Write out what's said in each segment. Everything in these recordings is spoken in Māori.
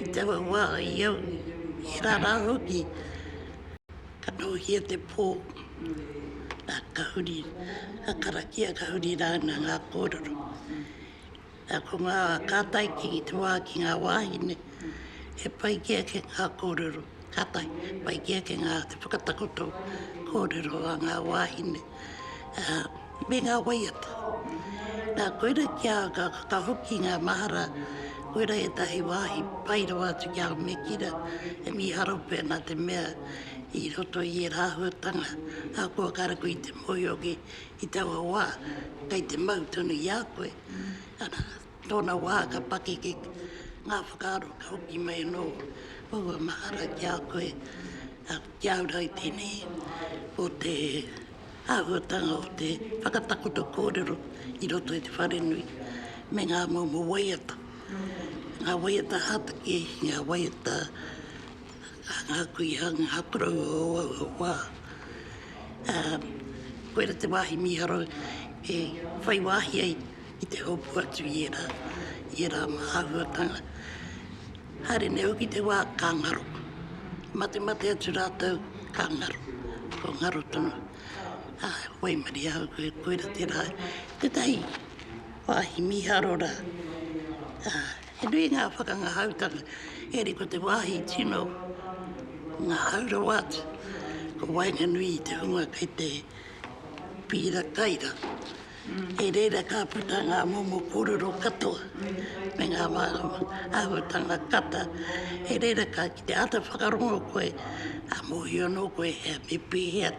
i taua wā i au, he rā rā hoki, ka nōhia te pō, ā, ka huri, ka karakia, ka huri rāna ngā kōrero. Ā, ko ngā kātai ki te wā, ki ngā wāhine, he pai kē ake ngā kōrero, kātahi, pai kē ake ngā, te whakatakoto kōrero a ngā wāhine. me ngā waiata. Nā, koira ki a au ka whakahoki ngā mahara, koira ētahi wāhi pai rawa atu ki a au, me kīra e mīharo pea nā te mea i roto i ērā āhuatanga ahakoa kāre koe i te mōhioki i taua wā, kei te mau tonu i a koe. Tōna wā ka pakeke ngā whakaaro ka hoki mai anō aua mahara ki a koe, ki au rā i tēnei, ko te āhuatanga o te whakatakoto kōrero i roto i te wharenui me ngā momo waiata, ngā waiata hātake, ngā waiata a ngā kuia, ngā koroua o aua wā. Koira te wāhi mīharo e whai wāhi ai I te hopu atu i ērā, i ērā mā āhuatanga, haere nei hoki te wā ka ngaro. Matemate atu rātou, ka ngaro. Ko ngaro tonu. Ā, waimarie ahau koe, koira tērā. Tētahi wāhi mīharo rā. Ā, he nui ngā whakangahautanga, engari ko te wāhi tino ngahau rawa atu, ko waenganui i te hunga kei te pīra kai rā. I reira ka puta ngā momo kōrero katoa me ngā mārawa āhuatanga kata. I reira ka kite āta whakarongo koe, ka mōhio anō koe he me pēhea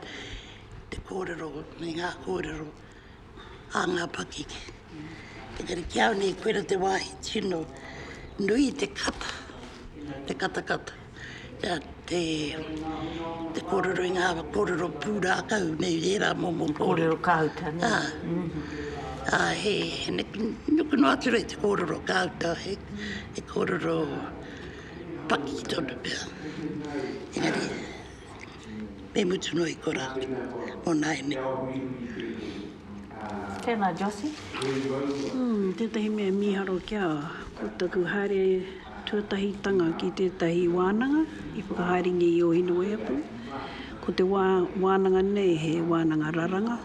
te kōrero me ngā kōrero a ngā pakeke. Engari ki au nei koira te wāhi tino nui te kata, te katakata. Nā te, te kōrero i ngā kōrero pūrākau nei rērā momo kōrero. Kōrero kāuta nei. Ā, ā, he, he neke nuku noa atu nei te kōrero kāuta, he, he kōrero paki tonu pea. Engari. me mutu noa i kora mo naene. Tena Jossy. Umm tetahi mea miharo kia ko taku haere tuatahitanga ki tetahi wananga i whakahaerengia i o Hineweapu, ko te wa wananga nei he wananga raranga,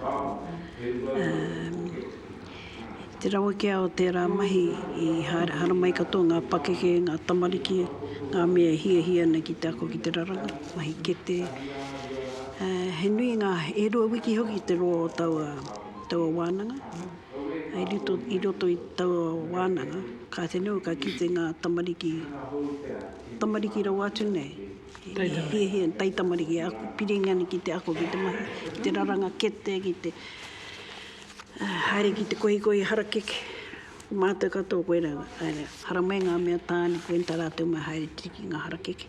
umm. I te rawe kē o tērā mahi i haramai katoa ngā pakeke, ngā tamariki, ngā mea e hiahia ana ki te ako ki te raranga, mahi kete. He nui ngā, e rua wiki hoki te roa o taua wānanga. I roto i taua wānanga, ka te nui, ka kite ngā tamariki, tamariki rawa atu nei, i hiahia, taitamariki, piringa ana ki te ako, ki te mahi, ki te raranga kete, ki te. Haere ki te kohikohi harakeke, ko mātou katoa koe rau, haere, haramai ngā mea tāne, koe tā rātou mai haere tere ki ngā harakeke,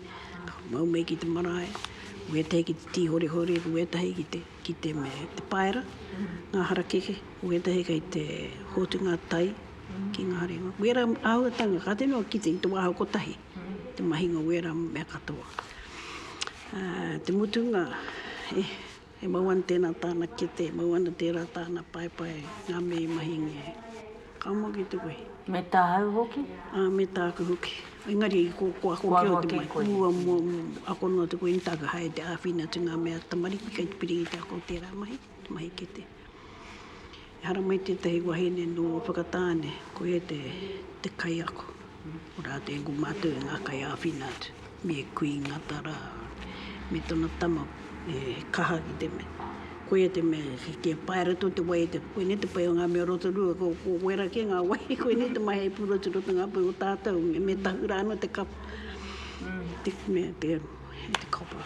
mau mai ki te marae, ko ētahi ki te tīhorehore, ko ētahi ki te, ki te me te paera, ngā harakeke, ko ētahi kei te hotu ngā tai ki ngā reanga. Wērā āhuatanga, ka tino kite i te wāhau kotahi, te mahinga o wērā mea katoa. Te mutunga, e. He mau ana tēnā tāna kete, mau ana tērā tāna paepae, ngā mea i mahingia e. Ka moe ki te wehi. Me tāu hoki? Ā, me tāku hoki. Engari, ko, ko ako kē o te mai. Kua ako kē koe. Mua, mua, mua, mua. Ako noa atu koe, nē, tāku hae te āwhina atu ngā mea tamariki kei te piri i te ako o tērā mahi, te mahi kete. Ehara mai tētahi wahine nō Whakatāne, koia te kaiako. Ko rātou ko mātou e ngā kaiāwhina atu, me Kui Ngata rā, me tana tama he kaha ki te mea, koia te mea kia pae ratou te wai, koinei te pai o ngā mea o Rotorua, ko wera kē ngā wai, koinei te mahi hei pūrua atu ki te ngāpau o tātou, me tahu rā anō te kapa, te mea, te copper.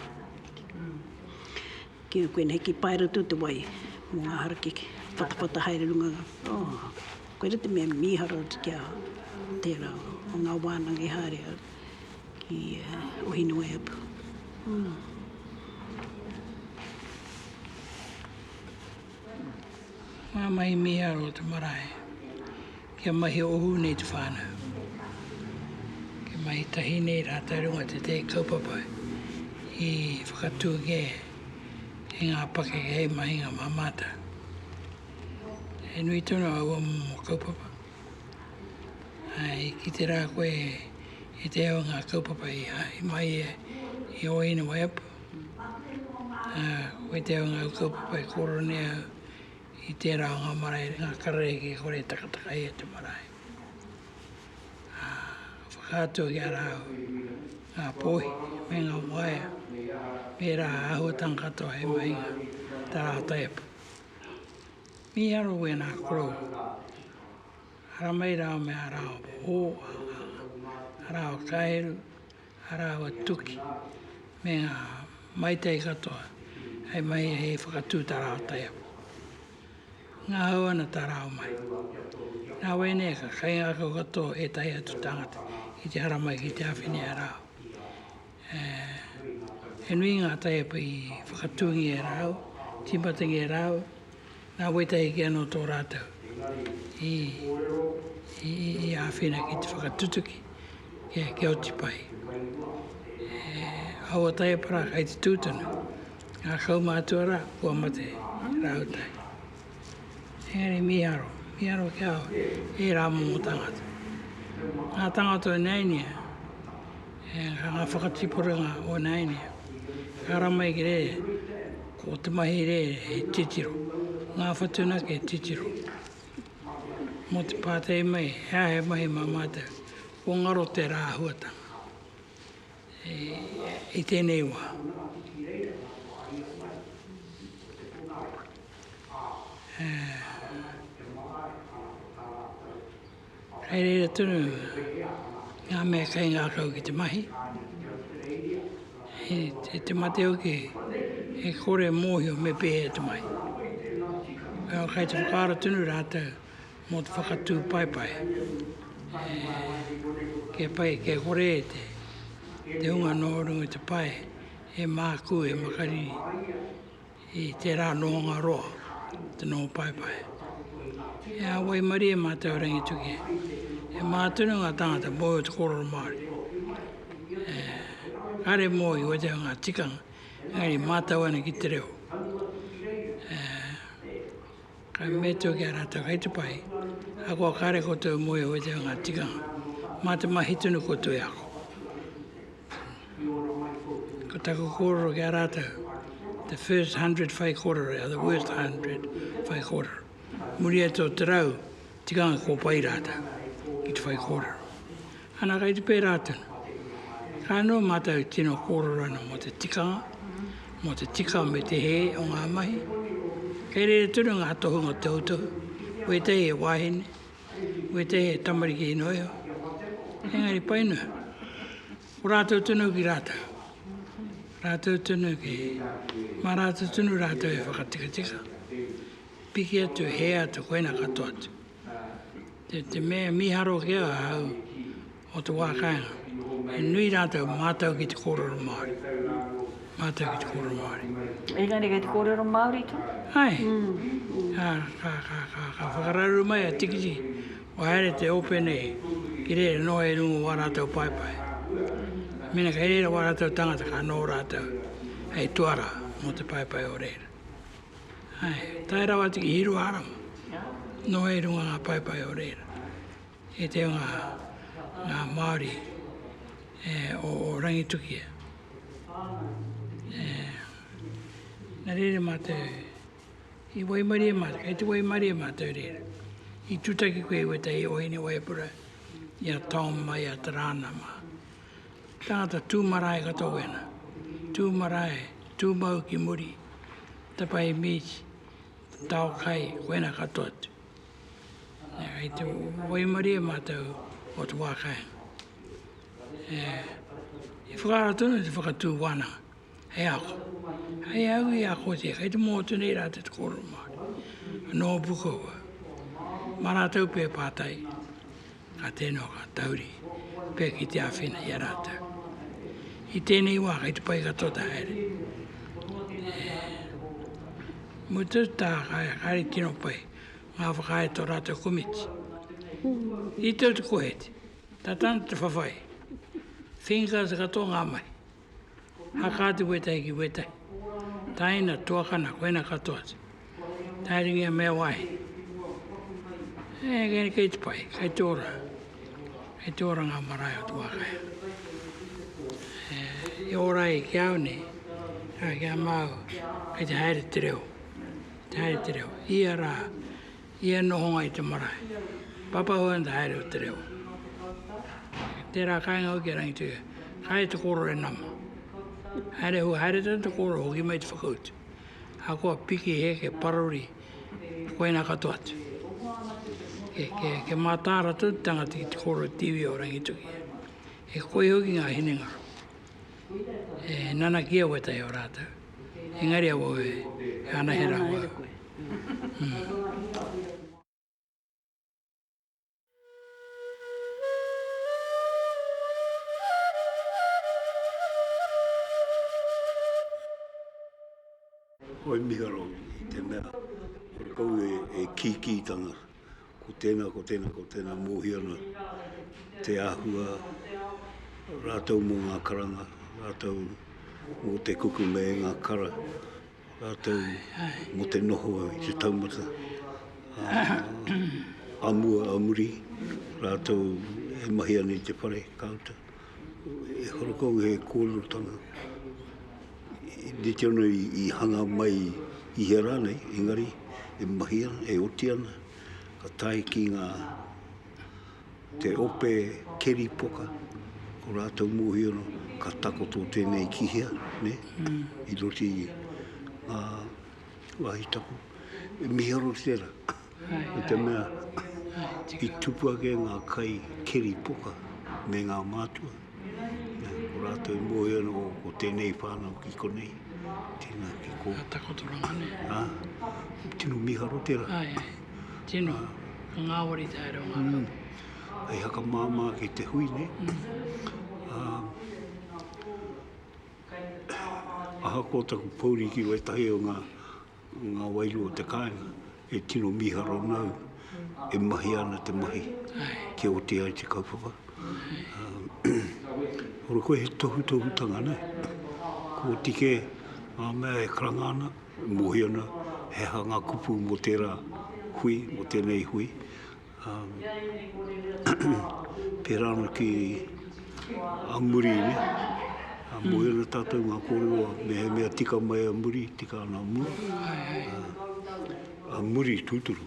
Ki a koe nei ki pae ratou te wai mo nga harakeke patapata haere runga oh koira te mea miharo atu ki a tera o nga wananga i haere au ki o Hineweapu oh. Mamae miharo te marae. Kia mahi ohu nei te whānau. Kia mahi tahi nei rātou runga o tētahi kaupapa i whakatū kē e ngā pakeke hei mahinga mā mātou. He nui tonu aua momo kaupapa. I kite rā koe i te ao o ngā kaupapa i haere mai ia i ō ina waiapu. Koe te ao o ngā kaupapa e kōrero nei au I tērā o ngā marae ngā kararehe e kore e takataka ai te marae. Ā, whakaatua ki a rāua ngā pōhi me ngā waea me ērā āhuatanga katoa hei mahinga tā rāua taiepa. Mīharo wēnā korou, haramai rāua me ā rāua hō, ā rāua kāheru, Ā rāua tuki me ngā maitei katoa hei mahi hei whakatū tā rāua taiapa. Ngahau ana tā rāua mahi. Nā wai nei ka kaingākau katoa ētahi atu tāngata ki te haramai ki te āwhina i a rāua. He nui ngā taiapa i whakatūngia e rāua, tīmatangia e rāua, Nā wētahi kē anō tō rātou i āwhina ki te whakatutuki kia oti pai. Aua taieparā kai te tū tonu, ngā kaumātua rā kua mate rāua tae. Engari mīharo, mīharo kia au, ērā momo tāngata. Ngā tāngata o Nēnia. Ehara nga whakatipurenga o naine, ehara mai ki re, ko te mahi re he titiro, nga whatunaki he titiro. Mo te patei mai, he aha he mahi ma matou? Ko ngaro te ra ahuatanga i tenei wa. Kei reira tonu ngā mea kei ngākau ki te mahi, i te mate hoki e kore e mōhio me pēhea te mahi. Kei te whakaaro tonu rātou mō te whakatū paepae, kia pai, kia kore e te hunga nō runga i te pae e mākū, e makariri. I tērā nōnga roa te nō paepae. E ā waimarie e mātou Rangitukia, e mātunu ngā tāngata mōi o te kōrero Māori. E kare mōi watea ngā tikanga, engari mātau ana ki te reo. E. Ka mea tau ki a rātou, kei te pai, ahakoa kāre koutou e moe au e te ao ngā tikanga, mā te mahi tonu koutou e ako. Ko taku kōrero ki a rātou, the first hundred whai kōrero, the worst hundred whai kōrero. Muri atu o te rau, Tika ana kua pai rātou ki te whai kōrero. Ana kai te pērā tonu. Ka noho mātou i tino kōrero ana mō te tikanga, mō te tika me te hē o ngā mahi. Kei reira tonu ngā tohunga tohutohu, wētahi he wāhine, wētahi he tamariki ino iho. Engari pai noa, ko rātou tonu ki rātou. Rātou tonu ki, mā rātou tonu rātou e whakatikatika, Piki atu e hea te koena katoa atu. Te, te me miharo ki a hau o te wākaenga. He nui rātou mātou ki te kōrero Māori. Mātou ki te kōrero Māori. Engari kei te kōrero Māori tonu? Ai. Mm. Ka, ka, ka, ka, ka whakarauru mai a Tikiti, kua haere te ope nei, ki reira noa i runga wā rātou paepae. Mena kei reira wā rātou tangata, ka nō rātou hei tuara mō te paepae o reira. Tae rawa atu ki Hiruharama, noho i runga ngā paepae o reira, i te o ngā Māori o Rangitukia. Nā reira mātou, i waimarie mātou, kei te waimarie mātou reira. I tūtaki koe i wētahi o Hine Waipura, i a Tom mai a Tarana mā. Tangata tū marae ka tō wena. Tū marae, tū mau ki muri, tapa i mīti, tao kai, wena katoa atu. Nā, kei te waimarie mātou o te wā kāinga. E whakaaro tonu te whakatū wānanga hei ako. Hei au i akotia, kei te mōtu nei rā te kōrero Māori, nō Pukawa, mā rātou pēpātai. Ka tēnā ka tauri pea ki te āwhina i a rātou. I tēnei wā kei te pai katoa te haere. E mutu tā kāre, kāre tino pai ngā whakaae tō rātou komiti. I tau te koheti, tā tāna te whawhai, whinga te katoa ngā mahi. Haka atu wētahi ki wētahi. Taina, tuakana, koina katoa atu. Taeringia mea wāhi. E, kei te pai, kei te ora. Kei te ora ngā marae o Tuākaya. E, e ora ai ki au nei, a, ki a māu, kei te haere te reo. Te haere te reo. Ia rā, Ia nohonga i te marae. Papahua and the haere o te reo. Tērā kāinga hoki a Rangituia. Kāre te kōrero e nama. Haere hua, haere tonu te kōrero hoki mai te whakautu. Ahakoa piki, heke, parori, koina katoa atu. Kia mātāra tonu te tangata ki te kōrero i te iwi o Rangitukia. He koi hoki ngā hinengaro. E nanakia wētahi o rātou. Engari awa oe, he anahera hua. Hoi miharo i te mea kore kau e kīkī tana ko tēnā, ko tēnā, ko tēnā mōhio ana te āhua rātou mō ngā karanga, rātou mō te kukume i ngā kara, Rātou mō te noho i te taumata a mua, a muri, rātou e mahi ana i te whare ka uta. E wharakou he kōrerotanga, rite ana i hanga mai i hea rānei, engari e mahi ana, e oti ana, ka tae ki ngā. Te ope keri poka, ko rātou mōhio no, ka takoto tēnei ki hea, nē, i roto i ngā wāhi tapu. E miharo tērā, no te mea, i tupu ake ngā kai keri poka me ngā mātua. Ko rātou i mōhio anō ko tēnei whānau ki konei, tēnā ki kō. Ka takotoranga nei. Ā, tino miharo tērā. Ai, ai, tino. Ka ngāwari te haere o ngā rau. Hei hakamāmā ki te hui nei. Ā, ahakoa taku pōuri ki wētahi o ngā Ngā wairua o te kāinga e tino mīharo ana au e mahi ana te mahi kia oti ai te kaupapa. Ora koe he tohutohutanga nei, kua oti kē ngā mea e karanga ana, e mōhio ana he aha ngā kupu mō tērā hui, mō tēnei hui. Pērā ana ki a muri, moe ana tātou ngā kōrero mehemea tika mai a muri, tika ana a mua. A muri tūturu,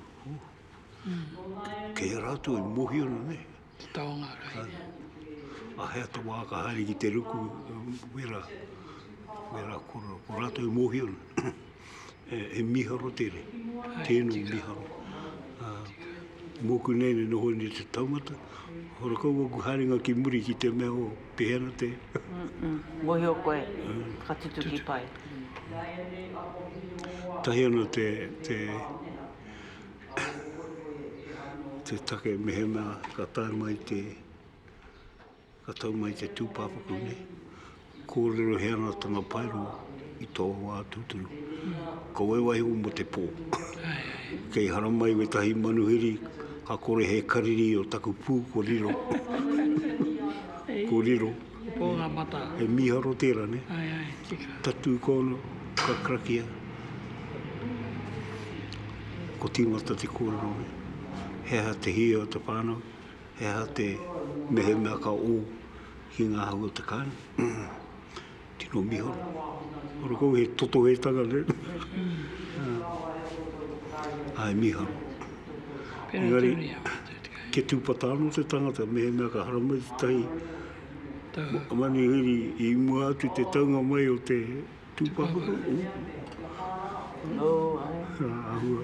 kei a rātou e mōhio ana nei. Te taonga haere. A he ata wā ka haere ki te ruku, wērā, wērā kōrero, ko rātou e mōhio ana. E miharo tere, teno miharo. Moku nei ne noho nei te taumata, hora kau oku haerenga ki muri ki te mea o pehena te. Mohio koe, whakatutuki pai. Tahi ana te te take mehemea ka tae mai te. Ka tau mai te tūpāpaku nei, kōrero he anatanga paero i tō wā tūturu. Ka waewae iho mō te pō. Kei haramai wētahi manuhiri, ka kore he kariri o taku pū ko riro. Ko riro. He mīharo tērā, nē? Tatū kōno, ka karakia. Ko tīmata te kōrero nei. He aha te hia o te whānau? He aha te mehemea ka ū ki ngā hau o te kāinga? Tino miharo. Ora kou he totohetanga ne? Ā, e miharo. Engari, kia tūpata anō te tangata, mehemea ka haramai tētahi manuhiri i mua atu te taunga mai o te tūpāpaku, ū, āhua.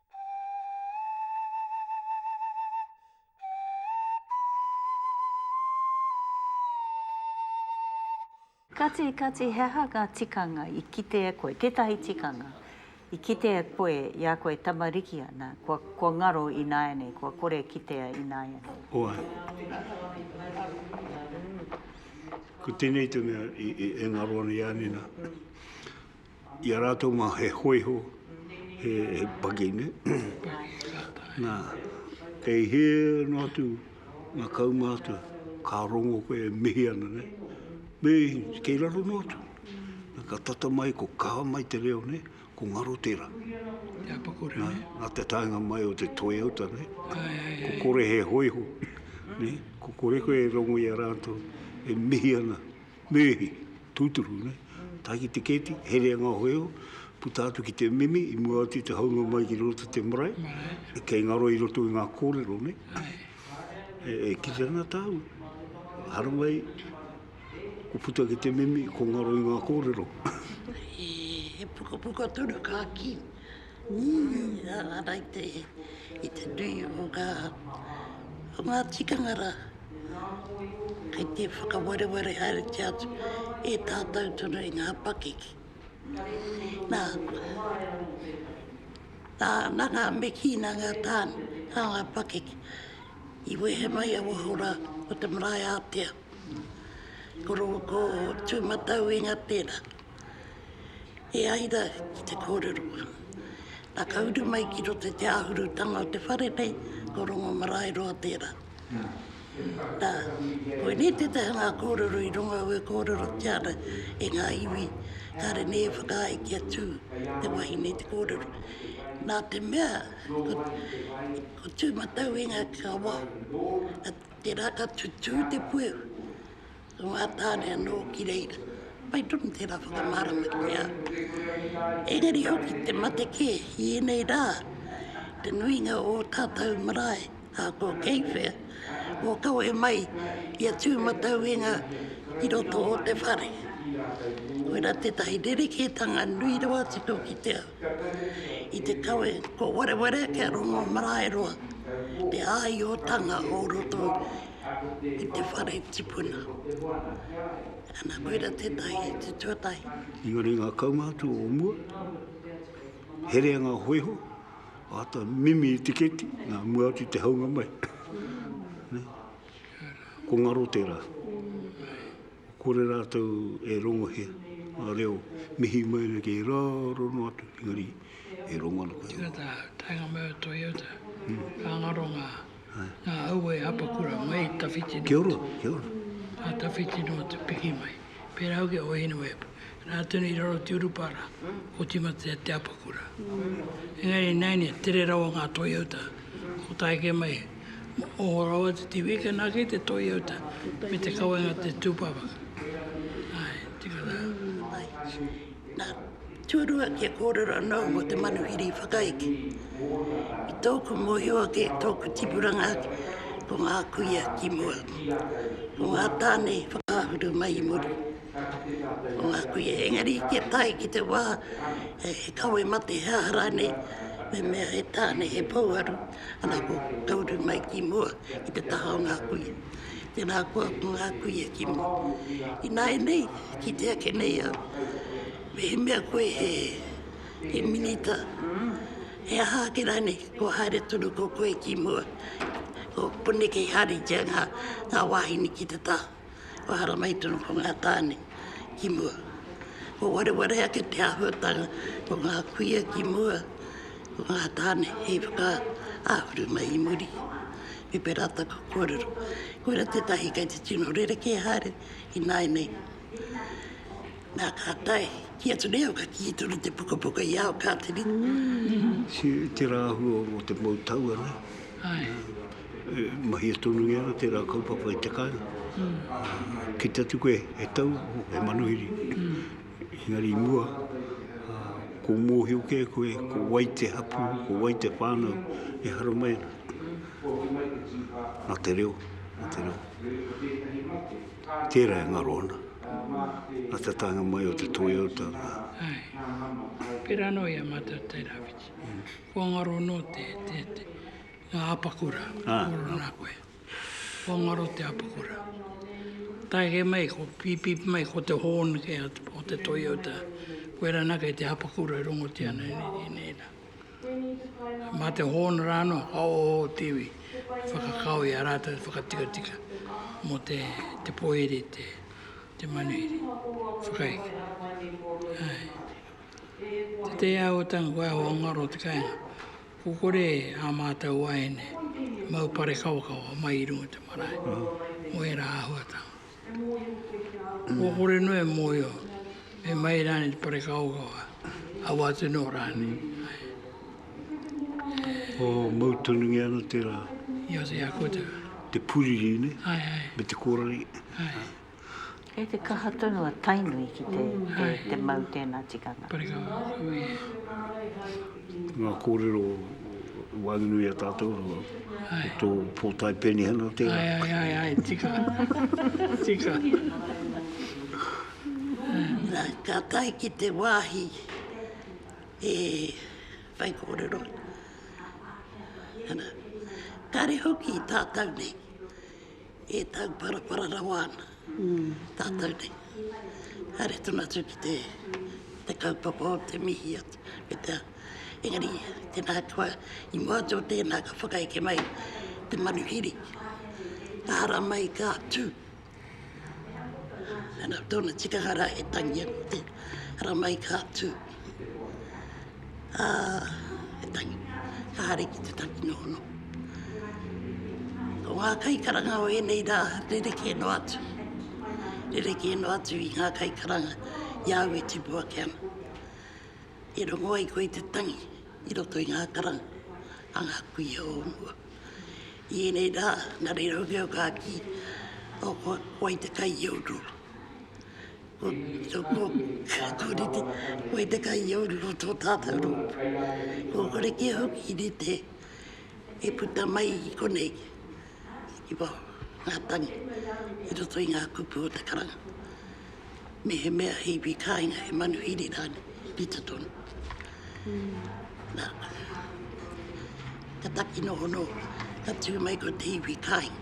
Kati, kati, he aha ngā tikanga i kite e koe? Tētahi tikanga i kite e koe i a koe e tamariki ana, kua, kua ngaro ināianei, kua kore e kitea ināianei? Oā. Ko tēnei te mea e, e, e ngaro ana i a nena. I a rātou mā he hōiho, he paki nei, nā, kei hē noa atu ngā kaumātua ka rongo koe e mihi ana nei, me kei raro noa atu, nā ka tata mai ko kaha mai te reo nei, ko ngaro tērā. Nā, nā te taenga mai o te toiauta nei, ko kore he hōiho, ko kore koe e rongo i a rātou e mihi ana. Meihi, tūturu nei. Tae ki te kēti, herea ngā hoeo, puta atu ki te mimi i mua atu i te haunga mai ki roto te marae, kei ngaro i roto i ngā kōrero nei. E kite ana tāu, haramai ko puta ki te mimi, ko ngaro i ngā kōrero. He pukapuka tonu ka kī. Ara ra i te i te nui o nga o nga tikanga ra kei te whakawareware haeretia atu e tatou tonu i nga pakeke na na nga mekī na nga tane na nga pakeke i wehe mai a waho ra o te marae atea ko ro ko tumatau inga tera. E ai rā ki te kōrero, nā ka uru mai ki roto i te āhurutanga o te whare nei, ko Rongomaraeroa tērā. Nā, koinei tētahi o ngā kōrero i runga au e kōrerotia ana e ngā iwi, kāre nei e whakaae kia tū te wahine i te kōrero. Nā te mea, ko Tūmatauenga ka waho, tērā ka tutū te puehu. Ko ngā tāne anō ki reira, pai tonu tērā whakamārama ki ngā au. Engari hoki te mate kē i ēnei rā, te nuinga o ō tātou marae a kō Keiwhea, kua kawe mai i a Tūmatauenga ki roto o te whare. Koirā tētahi rerekētanga nui rawa atu tō ki te ao. i te kawe kua werewere kia rongo marae roa te āiotanga o roto i te whare tipuna. Ana koira tētahi te tuatahi. Engari ngā kaumātua o mua, herea ngā hoiho, āta mimi i te keti, nā mua atu te haunga mai. Ko ngaro tērā. Kore rātou e rongohia ngā reo mihi mai ana kei raro noa atu, engari e rongo ana koe. Tēnā tā, taenga mai o Toyota, ka ngaro ngā, ngā aua e hapakura mai i tawhiti noa atu. Kia ora, kia ora. Ā, tawhiti noa atu, piki mai. Pērā hoki a Hoihine Webb, rā tonu i raro te urupā rā, otimatea te apakura. Engari i nāianei, tere rawa ngā Toyota, ko tāeke mai, Moho rawa te tiwhi kia nā kei te toi au ta me te kawenga te tūpapa. Ae, tika rā. Mai. Nā, tūrua kia kōrero anō mō te manuhiri whakaeke. I tōku mōhio ake, tōku tipuranga ake, ko ngā kuia ki mua. Ko ngā tāne whakaahuru mai i muri. Ko ngā kuia, engari kia tae ki te wā he kawe mate he aha rānei, me mea he tāne he pouaru, Ana ko Golden mai ki mua i te taha o ngā kuia. Tēnā koa ko ngā kuia ki mua. Ināianei, kite ake nei au, mehemea koe he, he minita, he aha ake rānei, kua haere tonu ko koe ki mua. Ko konei kei hāritia ngā, ngā wāhine ki te taha. Kua haramai tonu ko ngā tāne ki mua. Kua wareware ake te āhuatanga ko ngā kuia ki mua, ko ngā tāne hei whakaahuru mai i muri. Me pērā taku kōrero, koira tētahi kei te tino rerekē haere ināianei. Nā ka tae, ki atu nei au ka kī tonu te pukapuka i a au, Kātiri. Tērā āhua o te mau tau anei. E mahia tonu nei ana tērā kaupapa i te kai. Kite atu koe, he tau, he manuhiri. Engari i mua, ko mōhio kē koe, ko wai te hapū, ko wai te whānau e hara mai ana. Nā te reo, nā te reo. Tērā e ngaro ana. Nā te taenga mai o te toi o te ao. Pērā anō i a mātou Tairawhiti. Kua ngaro anō te, te, te, Nga apakura koro na koe. Kua ngaro te apakura. Taeke mai ko pipip mai ko te horn kei a o te Toyota. Koe ra na kei te apakura e rongotia na e nei ra. Ma te horn ra no ka oho o te iwi e whakakao i a ratou e whakatikatika mo te te poiri te te manuhiri. Whakaeke. Ae. Te te ahuatanga koe aho ngaro te kainga. Ko kore ā mātou waeine mau parekawakawa mai i runga i te marae mō ērā āhuatanga. Kua kore noa e mōhio me mai rānei te parekawakawa, awa atu noa rānei. Ko mau tanungia ana tērā. Ia te ako te. Te puriri nei. Ai, ai. Me te kōrari. Ai. Kei te kaha tonu a Tainui ki te, te, te mau tēnā tikanga. Parika atu i. Ngā kōrero waenganui a tātou, ai. tō pōtae penihana tērā. Ai, ai, ai, ai, tika, tika. Nā, ka tae ki te wāhi e whai kōrero. Ana, kare hoki tātou nei. E tauparapara rawa ana tātou nei. Haere tonu atu ki te, te kaupapa o te mihi atu me te aha. Engari, tēnā koa, i mua atu o tēnā ka whakaeke mai te manuhiri, ka hara mai, ka tū. Ana, tōna tikanga rā he tangi anō tērā, hara mai ka tū. ā, he tangi, ka haere ki te tanginohono. Ko ngā kaikaranga o ēnei rā, rerekē noa atu, rerekē noa atu i ngā kaikaranga i a au e tipu ake ana. E rongo ai koe i te tangi i roto i ngā karanga a ngā kuia o mua. I ēnei rā, nā reira hoki au ka kī, o, ko, ko wai te kai i a rō. Ko tōku whakarite, ko i te kai i au rongo tō tātau rōpū. Kua kore kia hoki i rite e puta mai i konei, i waho ngā tangi, i roto i ngā kupu o te karanga. Mehemea he iwi kāinga, he manuhiri rānei, rite tonu. Nā, ka taki noho noa, ka tū mai ko te iwi kāinga.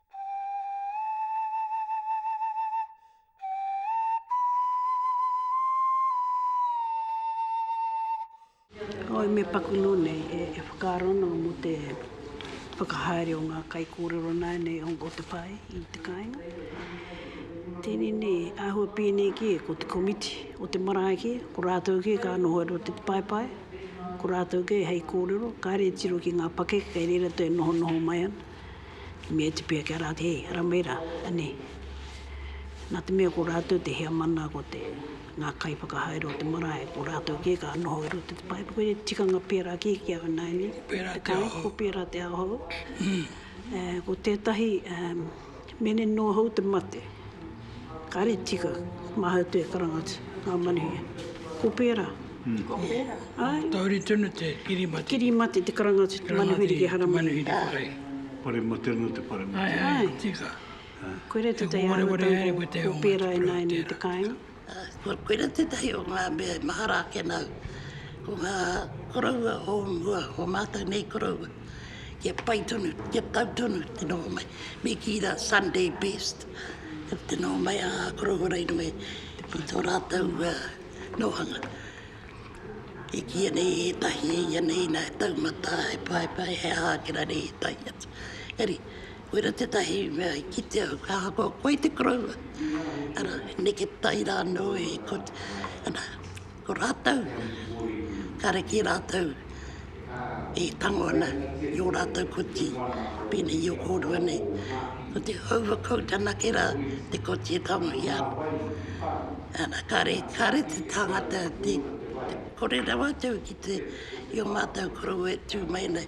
Kāore me pakuno nei e whakaaro ana mō te whakahaere o ngā kaikōrero nāianei o te pae i te kāinga. Tēnei nei, āhua pēnei kē ko te komiti o te marae kē, ko rātou kē ka noho i roto i te paepae, ko rātou kē hei kōrero, kāre e tiro ki ngā pakeke kei reira te nohonoho mai ana. Me oti pea kia rātou, hei, ara mai rā, anei. Nā te mea ko rātou te heamana, ko te, ngā kaiwhakahaere o te marae, ko rātou kē ka noho i roto i te paepa. Koinei te tikanga pērā kē ki a ināianei. Ko pērā te aho hou. Ko pērā te aho hou. Ko tētahi, Mene noa hou te mate, kare tika mahau te karanga atu nga manuhia. Ko pera. Ko pera. Ai. Tauri tonu te kiri mate. Kiri mate te karanga atu te manuhiri ki Haramai. Ai. Pare mate no te pare mate. Ai. Ai. Tika. Koe re te tei arotahi ko pera e nae nei te kainga. Koira tētahi o ngā mea e mahara ake ana au, ko ngā koroua o mua, o mātou nei koroua, kia pai tonu, kia tau tonu te noho mai. Me kī rā, Sunday best, te noho mai a ngā koroua rei noa i tō rātou nōhanga. E kī ana i ētahi, i ana i nā taumata, he paepae, he aha ake rā nei i ētahi atu. Engari, Koira tētahi mea i kitea, ka ahakoa koe te koroua, ara, neke tai rānō i, ko, ana, ko rātou, kāre ki rātou e tango ana i ō rātou koti, pēnei i o kōrua nei. Ko te houwa kou tanake rā te koti e tangohia ana. Ana, kāre, kāre te tāngata te, te kore rawa atu ki te, i o mātou koroua e tū mai ana,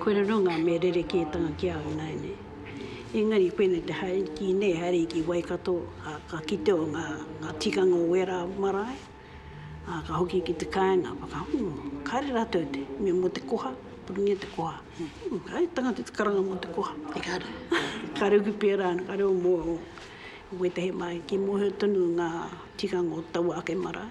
Koina no nga mea rerekētanga ki au ināianei. Engari koinei te haere ki nei, haere ki Waikato, a ka kite o nga tikanga o wērā marae, a ka hoki ki te kāinga, whakahu, kāre ratou te mea mo te koha, purungia te koha. Kāre tangata te karanga mo te koha. Engari, kāre hoki pērā, kāre o mua o wētehi marae, kī mohio tonu nga tikanga o taua ake marae.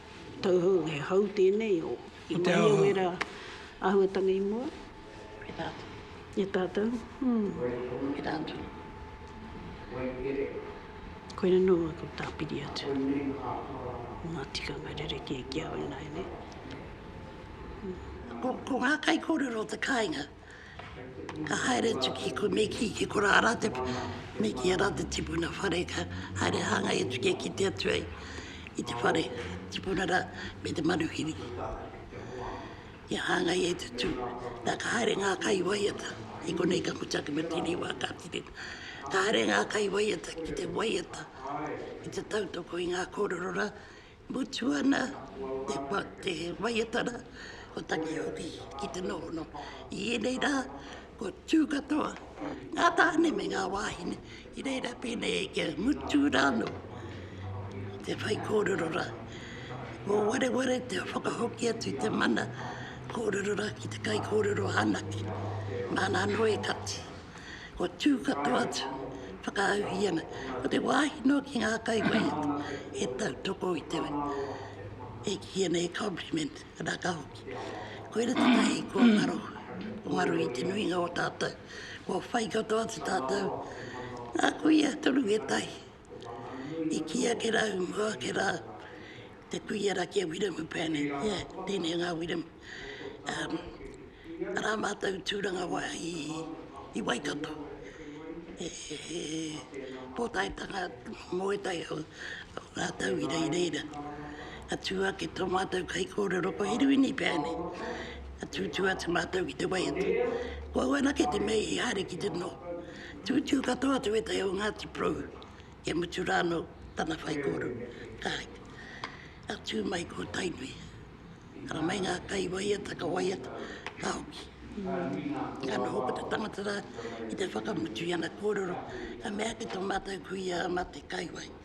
Tauhou, he hau tēnei o. I mahia wera āhuatanga i mua. E tātou. E tātou, hum. E tātou. Waikere. Koina nō aku tāpiri atu. Koinei ngā whakaaro. O ngā tikanga rerekē ki a au ināianei. Ko ngā kaikōrero te kāinga. Ka haere atu ki ko Meki, ki ko Rara te, Meki a Rara te tipuna whare, ka haere hāngai atu kia kite atu ai i te whare tipuna rā me te manuhiri. Kia hāngai e te tū, nā ka haere ngā kai waiata, i konei ka mutu ake me tēnei wā ka tirina. Ka haere ngā kai waiata ki te waiata, ki te tautoko i ngā kōrero rā, Mutu ana te waiatara o Takiauri ki te nohono. I ēnei rā, kua tū katoa ngā tāne me ngā wāhine i reira pēnei e kia mutu rānō te whai kōrero rā. Ko wareware te whakahoki atu te mana kōrero rā ki te kai kōrero anake. Nāna anō e kati. Kua tū katoa atu whakaau i ana, ko te wāhi noa ki ngā kaiwaiata e tautoko i te wai, e kī ana he compliment, arā, ka hoki. Koira tētahi kua ngaro, kua ngaro i te nuinga o tātou, kua whai katoa atu tātou, ngā kuia toru e tahi, I kī ake rā, i mua ake rā, te kuia rā ki a Wiremu Pane, ia tēnei o ngā Wiremu, arā mātou tūrangawa i Waikato, he pōtaetanga mōetai o rātou i reira, ka tū ake tō mātou kaikōrero ko Hiriwini Pane, ka tūtū atu mātou ki te waiata. Ko au anake te mea i haere ki te noho. Tūtū katoa atu ētahi o Ngāti Porou, kia mutu rā anō tana whaikōrero. Kāti, ka tū mai ko Tainui, ara mai ngā kai waiata, ka waiata, ka hoki. Ka noho ko te tangata rā ki te whakamutu i ana kōrero, ka mea ki tō mātou kuia a Mate Kaiwai,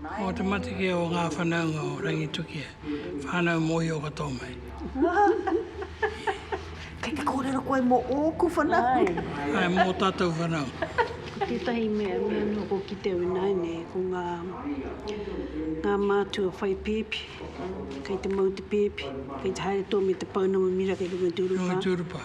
Mō te matakia o ngā whanaunga o Rangitukia, whānau mōhio katoa mai. Kei te kōrero koe mō ōku whanaunga? Āe, mō tātou whanaunga. Ko tētahi mea, mea noa kua kitea au ināianei, ko ngā, ngā mātua whai pēpi, kei te mau te pēpi, kei te haere toa me te pounamu mira kei runga i te urupā. Runga i te urupā.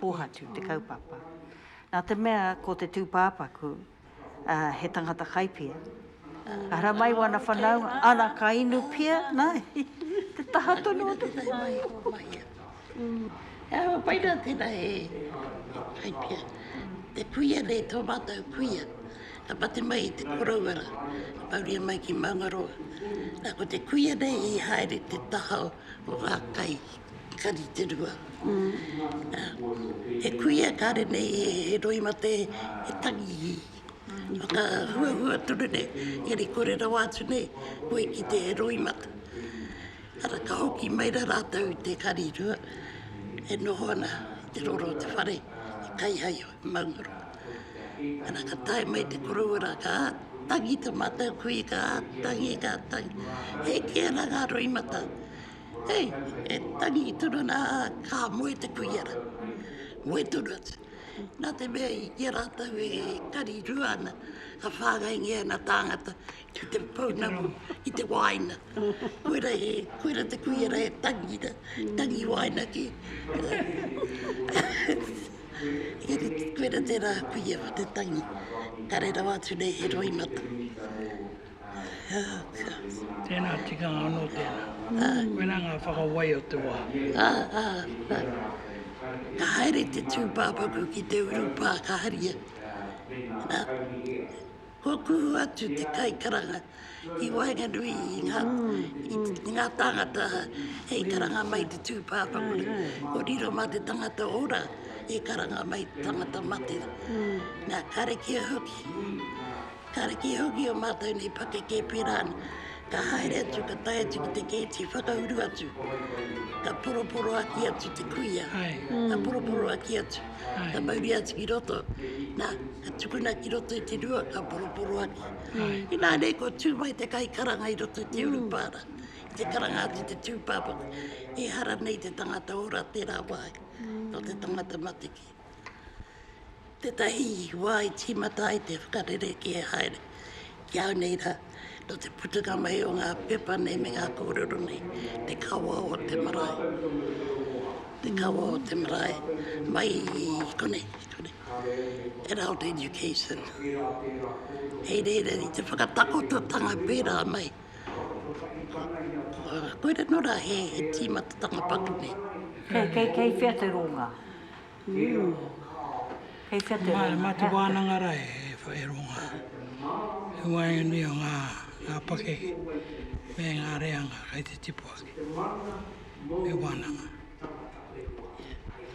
Pōhatu te kaupapa. Nā te mea ko te tūpāpaku he tangata kaipia, ara mai wana whanaunga, ana ka inu pia, nā, i te taha tonu o te pōhatu. He aha pai nā tēnā he kaipia? Te puia nei, tō mātou puia, ka mate mai i te koroua rā, ka mauria mai ki Maungaroa. Nā, ko te kuia nei i haere te taha o ngā kai. Kari te rua. He kuia kare nei he roi mate he tangi i. Whaka hua hua tonu nei. Engari kore rawa atu nei koe ki te roi mate. Ara ka hoki mai ra ratou i te kari rua e noho ana i te roro o te whare i Kaihaio i Maungaroa. Ara ka tae mai te koroua ra ka tangi ta matou kui ka tangi ka tangi. Heke ana nga roi mata Hei, e tangi tonu ana ka moe te kuia rā, moe tonu atu. Nā te mea i a rātou e kari rua ana, ka whāngaingia ana tāngata ki te pounamu, ki te wāina. Koira, he, koira te kuia rā e tangi ana, tangi wāina ki. koira tērā kuia te tangi. Kare rawa atu nei he roi mata. Tēnā tikanga anō tēnā. Koinā ngā whakawai o te wā. Ka haere te tūpāpaku ki te urupā ka haria. Kua kuhu atu te kaikaranga ki waenganui i ngā tāngata hei karanga mai te tūpāpaku nei. Kua riro mā te tangata ora e karanga mai te tangata mate. Nā, ka rekia hoki. Kāre kē hoki ō mātou nei pakeke pērā ana, ka haere atu, ka tae atu ki te kēti whakauru atu, ka poroporoaki atu te kuia, ka poroporoaki atu, ka mauria atu ki roto, nā, ka tukuna ki roto i te rua, ka poroporoaki. Inā nei kua tū mai te kaikaranga i roto i te urupara, i te karanga atu i te tūpāpaku, ehara nei te tangata ora tērā wāhi, nō te tangata matikī. Tētahi wā i tīmata ai te whakarerekē haere ki au nei rā, nō te putunga mai o ngā pepa nei me ngā kōrero nei, te kawa o te marae, te kawa o te marae, mai i konei, i konei, adult education. Hei reira, i te whakatakototanga pērā mai, koira nō rā he tīmatatanga paku nei. Kei whea te rōnga? Mā te wānanga rā e whakairo ngā waeine o ngā pakeke me ngā reanga kei te tipu ake he wānanga.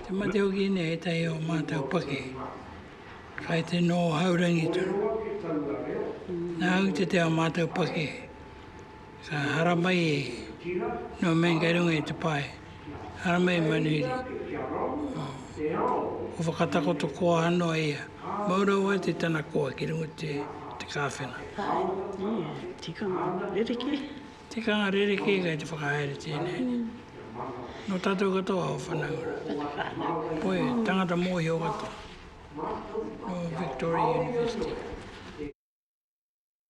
Te mate o Guinea ētahi o mātou pakeke kei te noho haurangi tonu. Nā Ūtete ā mātou pakeke Ka haramai e nō man kei runga i te pae, haramai e manuhiri. Ko whakatakoto koa anō a ia, mau rawa atu tana koa ki runga te kāwhena. Tikanga rerekē. Tikanga rerekē kei te whakahaere tēnei nei. Nō tātou katoa o Whanaunga. Koe, tangata mōhio katoa. Nō Victoria University.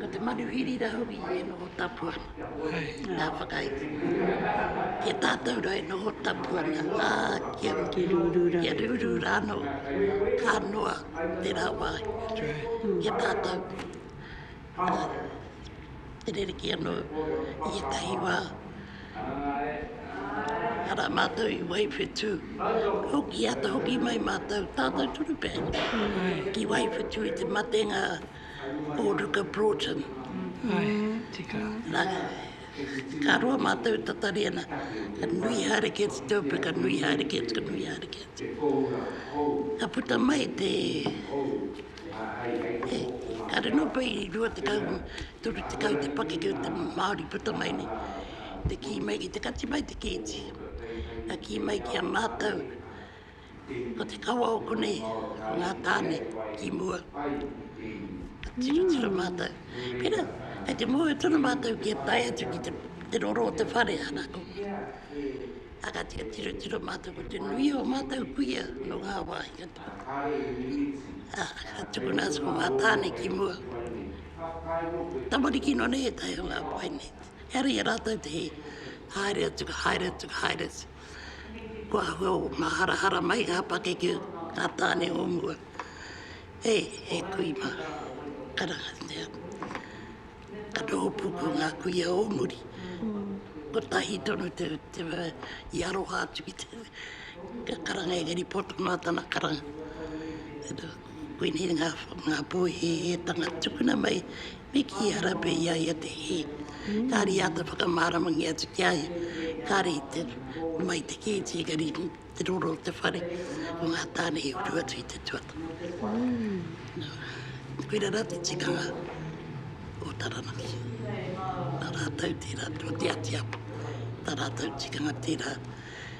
Ko te manuhiri rahui e noho tapu ana, nga whakaiti. Ki a tatou ra e noho tapu ana, a, kia, kia ruru ra ano, ka noa tera wa ki a tatou, a, e rerekē ano i etahi wa, ara matou i wai whetu, hoki ata hoki mai matou, tatou tunu pea, ki wai whetu i te matenga, Ulrika Broughton. Ae, tika. Na, ka roa matou tatari ana, ka nui haere kē te teupe, ka nui haere kē, ka nui haere kē. Ka puta mai te, e, ka rino pei i rua tekau, toru tekau te pakeke o te Māori puta mai nei, te kī mai ki te kati mai te kēti, ka kī mai ki a mātou, Ko te kawa o konei ngā tāne i mua, ka tiratira mātou. Pērā, kei te mōhio tonu mātou kia tae atu ki te roro o te whare, ana koutou. Ā, ka tiratira mātou ko te nui o mātou kuia nō ngā wāhi katoa. Ā, ka tukuna atu ko ngā tāne ki mua. Tamariki nō nei e taea e ngā pae nei. Hereia rātou te hē, haere atu, ka haere atu, ka haere atu. Kua hua o nga harahara mai nga pakeke o nga tane o mua. E, e kui ma, ara nea, ka noho puku nga kuia o muri. Kotahi tonu te, te, i aroha atu ki te, te karanga engari poto noa tana karanga. Koinei ngā pō hēhētanga tukuna mai me kī a Rape i a ia te hē, kāore i āta whakamāramangia atu ki a ia, kāore i te mai te kēti engari i te roro o te whare o ngā tāne i uru atu i te tuatoru. Koirā rā te tikanga o Taranaki. Nā rātau tērā tō te atiapo, tā rātau tikanga tērā.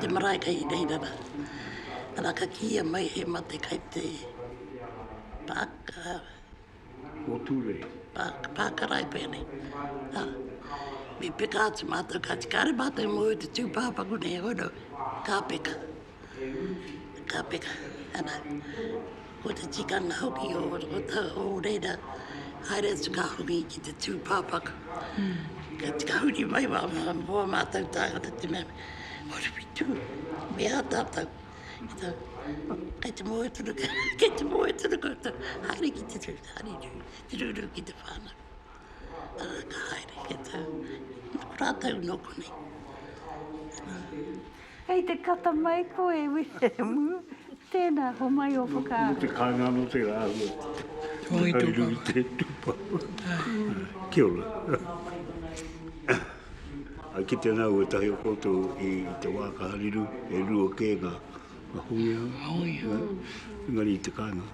Te marae ka hira hira ra. Ara ka kiia mai he mate kai te paka. Ko Ture. Pakarai pene. Me peka atu matou ka ti kare matou i moe te tupapaku nei hono ka peka. Ka peka ana. Ko te tikanga hoki o ō tāou reira, haere atu ka hoki ki te tūpāpaku. Ka huri mai wā ā mātou tāngata te mea, Horopitū, me ā tātou. Kei te moe tonu, kei te moe tonu koutou, haere ki te tū, haere ki te rūrū ki te whānau. Arā, ka haere, kei tātou, nō rātou nō konei. Hei te kata mai koe Wiremu. Tēnā, homai ō whakaaro. Nō te kāinga anō te āhua. Hei riro i te tūpapa. Kia ora. I kite ana au ētahi o koutou i te wā ka hariru, e rua kē ngā huia. Engari i te kāinga,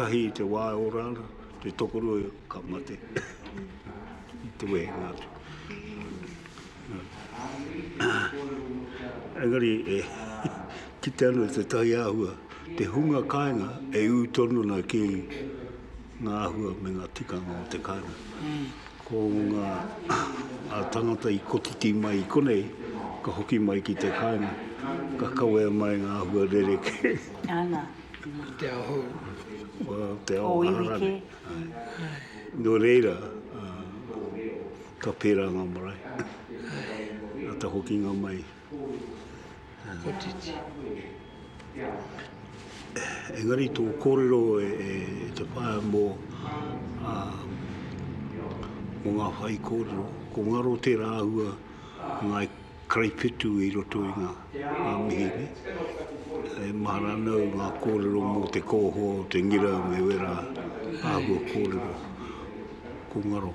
tahi i te wā e ora ana, te tokorua ka mate i te wehenga atu. Engari, e kite ana tētahi āhua, te hunga kāinga e ū tonu ana ki ngā āhua me ngā tikanga o te kāinga. Ko ngā tāngata i kotiti mai i konei, ka hoki mai ki te kāinga, ka kawea mai ngā āhua rerekē. Ana. O te ao hou. O te ao hou rānei. Nō reira, Ka pērā ngā marae. Nā te hokinga mai. Kotiti. Engari tō kōrero e te whaea mō ngā whai kōrero, ko ngaro tērā āhua ngāi karaiwhitu i roto i ngā mihi nei. E mahara ana au ngā kōrero mō te kōhō, te ngira me wērā āhua kōrero, ko ngaro.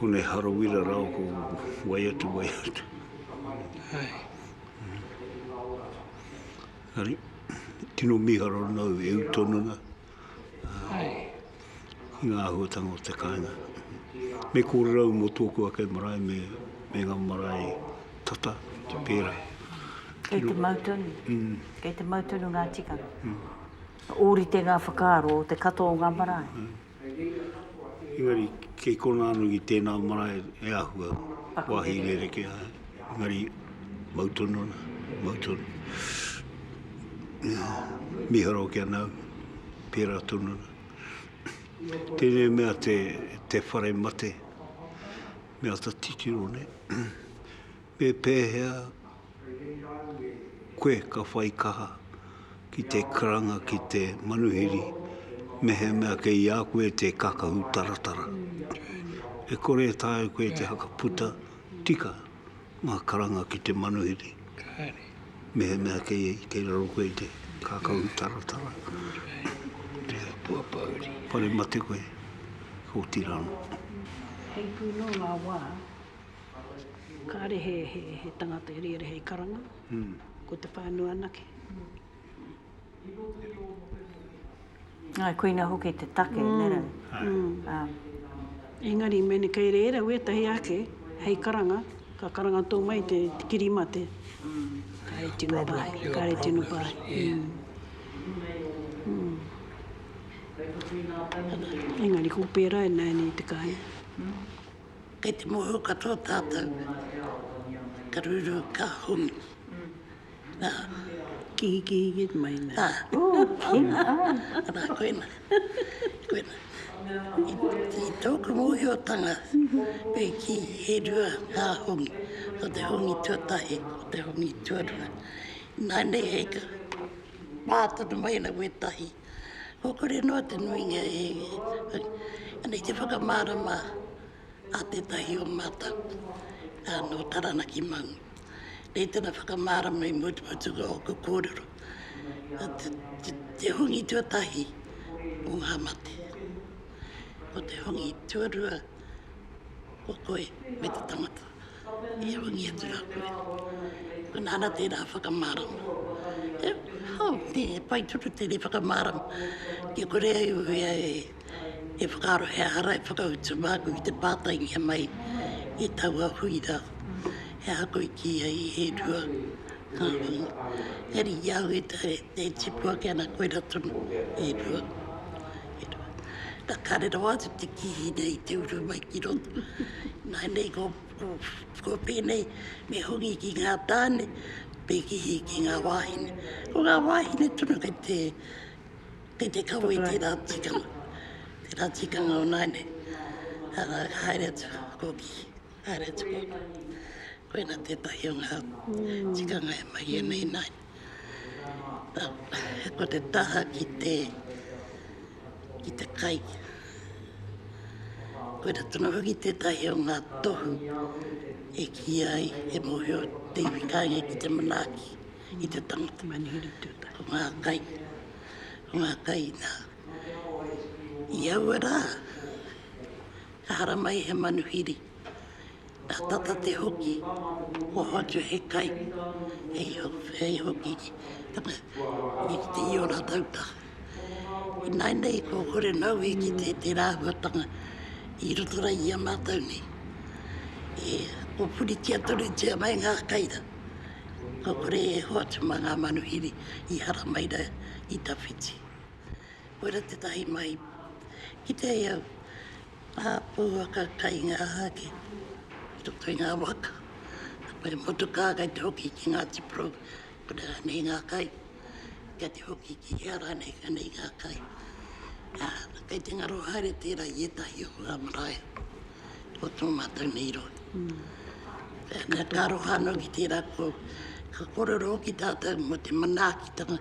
Konei Harawira rā ko wai atu wai atu. Hai. Hari, tino miharo rana au e u tonu na. Hai. Ki ngā ahuatanga o te kāinga. Me kōrero au mō tōku ake marae me, me ngā marae tata, te pērā. Kei te mau tonu. Mm. Kei te mau tonu ngā tikanga. Mm. Ōrite ngā whakaaro o te katoa o ngā marae. Mm. Engari kei kona anu i tēnā marae e āhua wāhi rerekē ai, engari mau tonu ana, mau tonu. Miharo kia nau, pērā tonu ana. Tēnei mea te, te whare mate, me ata titiro nei. Me pēhea Koe ka whai kaha ki te karanga ki te manuhiri mehemea kei a koe te kakahu taratara. E kore e taea koe te whakaputa tika ngā karanga ki te manuhiri mehemea kei raro koe te kakahu taratara. Whare mate koe, otirā anō. Heipū nō ngā wā. kāre he, he, he tangata e rere hei karanga, mm. ko te whānau anake. Ai, koina hoki te take, mm. nera. Mm. Um. Engari, mene kei reira wētahi ake, hei karanga, ka karanga tō mai te, te kirimate. Mm. Kāre tino pāhi, kāre tino pāhi. Mm. Mm. Engari, ko pērā e nāi nei te kāinga. Kei te mōhio katoa tātou, ka ruru, ka hongi. Nā. Kihikihiki mai nei. Ā. Ū, kina ai. Arā, koina. Koina. I, i tōku mōhiotanga, me kī, he rua ngā hongi. Ko te hongi tuatahi, ko te hongi tuarua. Ināianei hei ka pā tonu mai ana wētahi. Kua kore noa te nuinga e Anei te whakamārama a tētahi o mātou nō Taranaki Maunga. Nei tana whakamārama i mututuka o ōku kōrero. Te hongi tuatahi o ngā mate. Ko te hongi tuarua, ko koe me te tangata. i rungi atu rā koe. Nā rā tērā whakamārama. E, hau, nē, e pai tonu tēnei whakamārama kia kore ai au e whakaaro he aha rā e whakautu māku ki te pātaingia mai i taua hui rā, he aha koe i kī ai he rua. Kāhui, he riri au e te, e tipu ake ana koera tonu, e rua, e rua. Ka kare rawa atu te kihi nei i te uru mai ki roto. Nā, nei ko, ko, ko pēnei, me hongi ki ngā tāne, me kihi ki ngā wāhine. Ko ngā wāhine tonu kei te, kei te kawe i tērā tikanga, tērā tikanga o nāianei. Arā, ka haere atu, ko kihi. Haere tonu. Koina tētahi o ngā tikanga e mahia nei nā. Ko te taha ki te, ki te kai. Koina tonu hoki tētahi o ngā tohu e kīia ai he mōhio te iwi kāinga ki te manaaki i te tangata. Ko ngā kai, ko ngā kai nā. I aua rā, Ka haramai he manuhiri, ka tata te hoki, kua hoatu he kai, hei hoki i te iora tauta. Ināinei kua kore naue ki tērā āhuatanga i roto ai i a mātou nei, e pupuritia tonutia mai ngā kai rā, kua kore e hoatu mā ngā manuhiri i haramai rā i tawhiti. Koira tetahi mai ki te ao a pouaka kai nga ake i roto i nga waka. Ko te motuka kai te hoki ki nga tipro ko te ranei nga kai. Kai te hoki ki nga ranei ka nei nga kai. A kai te ngaro haere tera i etahi o nga marae o to matou nei roa. Na ka aroha no ki tera ko ka korero hoki tatou mo te manaaki tanga.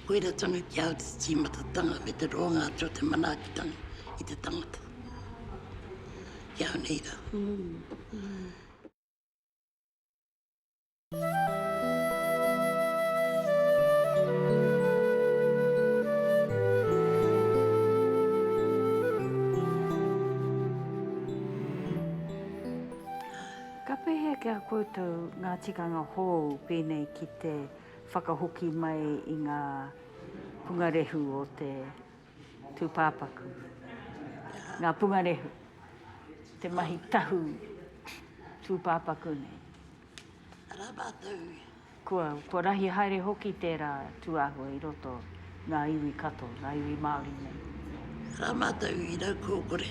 Koiratanga ki au te timatatanga me te roanga atu o te manaakitanga i te tangata. Ki au nei ra. Ka pēhea ki a koutou ngā tikanga hou pēnei ki te whakahoki mai i ngā pungarehu o te tūpāpaku, ngā pungarehu, te mahi tahu tūpāpaku nei? Arā mātou Kua, kua rahi haere hoki tērā tūāhua i roto ngā iwi katoa, ngā iwi Māori nei. Rā mātou i rau kōkore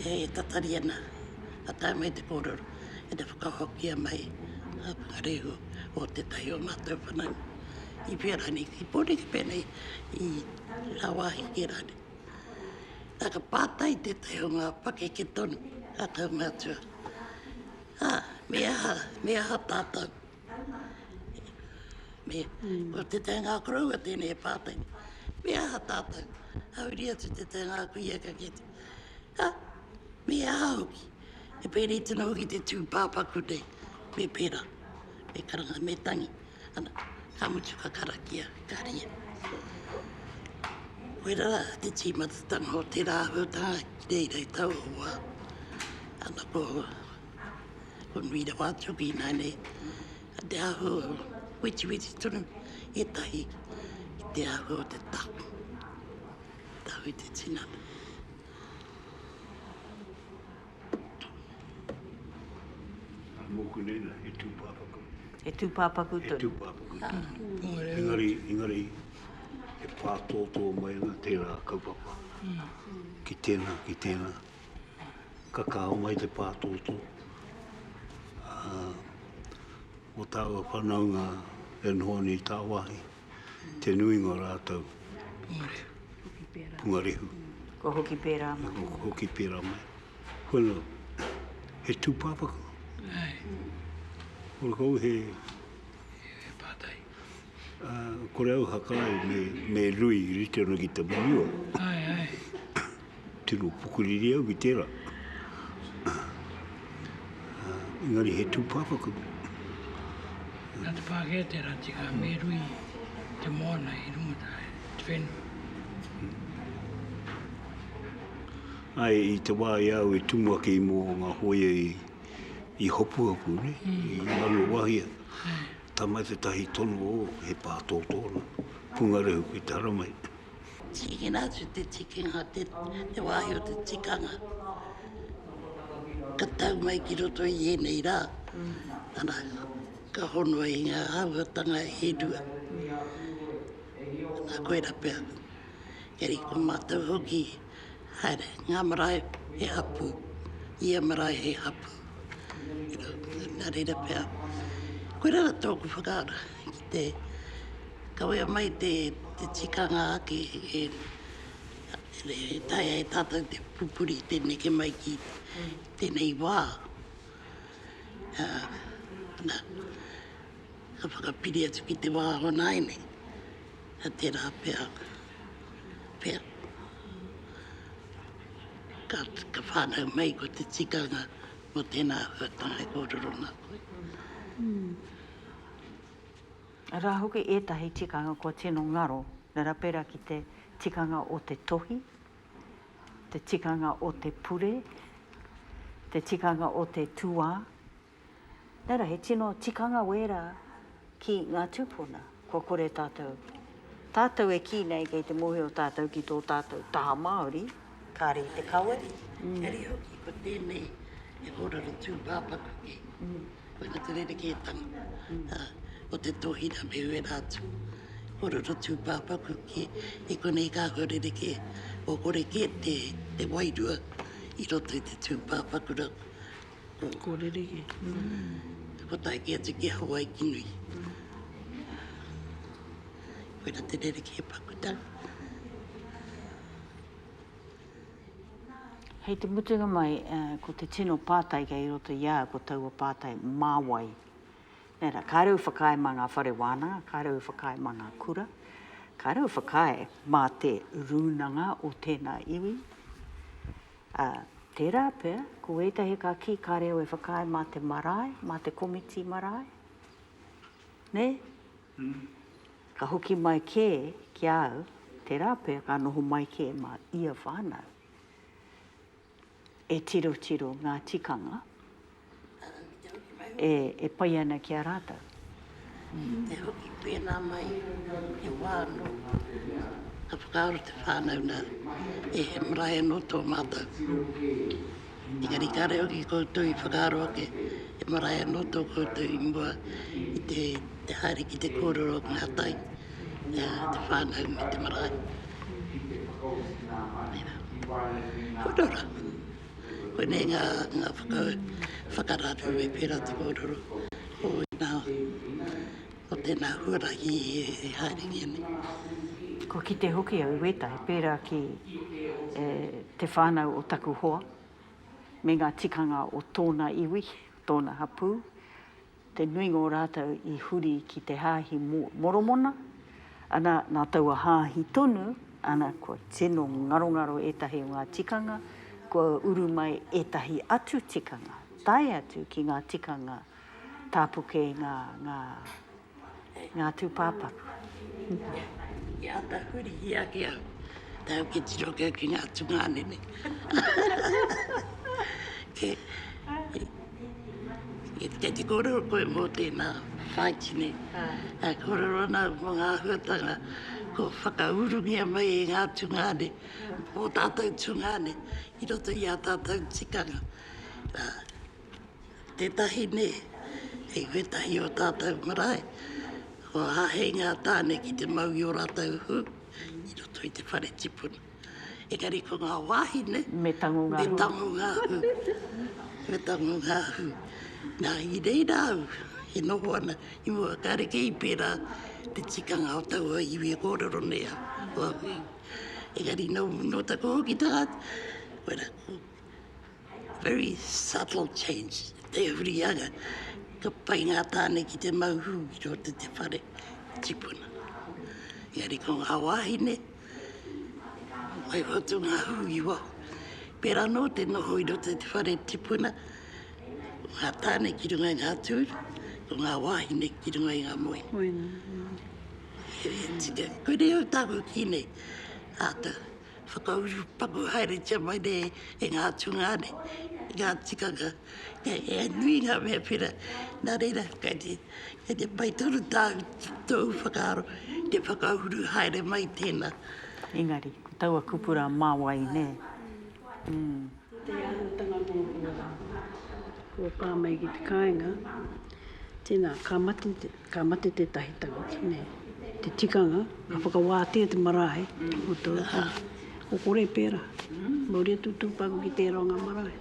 e tatari ana, ka tae mai te kōrero ki te whakahokia mai a Whakarehua o tētahi o mātou whanau i whea rānei, i Pōneke pēnei, i ngā wāhi kē rānei. Nā ka pātai tētahi o ngā pakeke tonu a tau mātua. Ā, me aha, me aha tātou? Me, ko te teingā koroua tēnei e pātai, me aha tātou? Hauri atu te teingā kuia ka kite, ā, me aha hoki? E pēnei tino hoki te tūpāpaku nei, me pērā, me karanga, me tangi. Ana, ka mutu ka karakia, ka ria. Koira ra te timatatanga o te rahu ta ki reira i tau o wa. Ana ko, ko nui ra wa tuki ina nei. A te ahu, witi witi tonu, e tahi, ki te ahu o te tahu. Tahu i te tinana. Nā mōku nēnā, he tūpāpaku. He tūpāpaku tonu. He tūpāpaku tonu. Engari, engari, e pātōtō mai ana tērā kaupapa. Ki tēnā, ki tēnā. Ka kaha mai te pātōtō. Ā, mō tāua whanaunga e noho ana i tāwāhi. te nuinga o rātou pungarehu. Kua hoki pērā mai. Kua hoki pērā mai. Kono, he tūpāpaku. Ai. Kore kou he... He pātai. Uh, kore au hakai me, me lui rite ana ki te muriwa. Ai, ai. Tino pukuriri au ki tērā. Engari he tūpāpaku. Nā te Pākehā tērā tika me rui te moana i runga tāia, te whenua. Āe, i te wā i a au e tumu ake i mō ngā hōia i Hopuhopu, nē, i Manawahia. Tama tētahi tono o, he pā tōtōna, pungarehu ki te haramai. Tīkina atu te tikinga, te wāhi o te tikanga, ka tau mai ki roto i ēnei rā, ana, ka honoa i ngā āhuatanga e rua. Nā koera pea, kei ko mātou hoki. Haere, ngā marae he hapū, ia marae he hapū. Nā reira pea, koirā tōku whakaaro ki te kawea mai te tikanga ake e taea e tātou te pupuri, te neke mai ki tēnei wā. Ka whakapiri atu ki te wā o nāianei. Nā tērā pea, pea, ka, ka whānau mai ko te tikanga mō tēnā āhuatanga e kōrero ana koe. Arā hoki ētahi tikanga kua tino ngaro, reira pērā ki te tikanga o te tohi, te tikanga o te pure, te tikanga o te tuā, Nā reira, he tino tikanga wērā ki ngā tūpuna, kua kore tātou, tātou e kī nei kei te mōhio tātou ki tō tātou taha Māori, kāre i te kawe, engari hoki ko tēnei he kōrero tūpāpaku kē, koina te rerekētanga o te tōhira me wērā atu kōrero tūpāpaku kē, i konei ka hua rerekē, kua kore kē te wairua i roto i te tūpāpaku rawa. Ko Reriki. Ko taiki atu ki Hawaiki nui. Koina te Reriki e Pakuta. Hei te mutunga mai, ko te tino pātai kei roto i a au, ko taua pātai, mā wai? Nē rā, kāre u whakaae mā ngā whare wānanga, kāre u whakaae mā ngā kura, kāre u whakaae mā te rūnanga o tēnā iwi. Ā, tērā pea, ko ētahi ka kī ka reo e whakaae mā te marae, mā te komiti marae, nē? Ka hoki mai kē ki a au, tērā pea ka noho mai kē mā ia whānau e tirotiro ngā tikanga. e pai ana ki a rātou. Ki te hoki pēnā mai he wā anō, ka whakaaro te whānau nā, e he marae anō tō mātou pū. Engari kāore hoki koutou i whakaaro ake, he marae anō tō koutou i mua i te haere ki te kōrero o ngā tai, te whānau me te marae. Tērā. Kua rau rā. Koinei ngā whakararu e pērā te kōrero o ēnā, o tēnā huarahi e haere ki anei. Kua kite hoki au i wētahi pērā ki te whānau o taku hoa me ngā tikanga o tōna iwi, tōna hapū, Te nuinga o rātou i huri ki te Hāhi Moromona, ana, nā taua Hāhi tonu, ana, kua tino ngarongaro ētahi o ngā tikanga, kua uru mai ētahi atu tikanga, tae atu ki ngā tikanga tāpuke, ngā, ngā, ngā tūpāpaku. Ki āta huri ake au, tau ki tiro kē ki ngā tungāne nei. Kei te kōrero koe mō tēnā whāiti nei. Ka kōrero ana au mō ngā āhuatanga kua whakaurungia mai e ngā tungāne, mō tātou tungāne, i roto i ā tātou tikanga. Tētahi nē, i wētahi o tātou marae, kua āhei ngā tāne ki te mau i ō rātou hū i roto i te whare tipuna. Engari ko ngā wāhine, me tango ngā hū. Me tango ngā hū. Nā, i reira au e noho ana i mua, kāre kē i pērā te tikanga o taua iwi e kōrero nei au, o au iwi. Engari nō taku hoki tangata, Very subtle change, te hurianga, ka pai ngā tāne ki te mau hū ki roto i te whare tipuna. Engari ko ngā wāhine, whai whatu ngā hū i waho. Pērā nō te noho i roto i te whare tipuna, ko ngā tāne ki runga i ngā tūru, ko ngā wāhine ki runga i ngā moenga. Moenga. He tika. Koinei au tāku ki nei, āta Whakauru paku haeretia mai nei e ngā tūnga nei, e ngā tikanga, e nui ngā mea pera, nā reira, kei te, kei te pai tonu tāu, tōu whakaaro, te whakauru haere mai tēnā. Engari, ko taua kupura mā wai, nē? Umm. Ki te āhuatanga mō kua kōpā mai ki te kāinga, tēnā, ka mate, ka mate tētahi tangata, nē, te tikanga, ka whakawātea te marae, o tō tā. Ko kore pērā, mauri atu tūpāku ki tērā o ngā marae.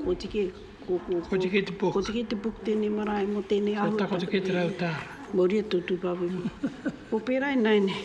Kotike, ko, ko, ko, kotike te puk. Kotike te puk tēnei marae mō tēnei āhuatanga. Kotike te rau tā. Mauri atu tūpāku. Ko pērā i nāi nei.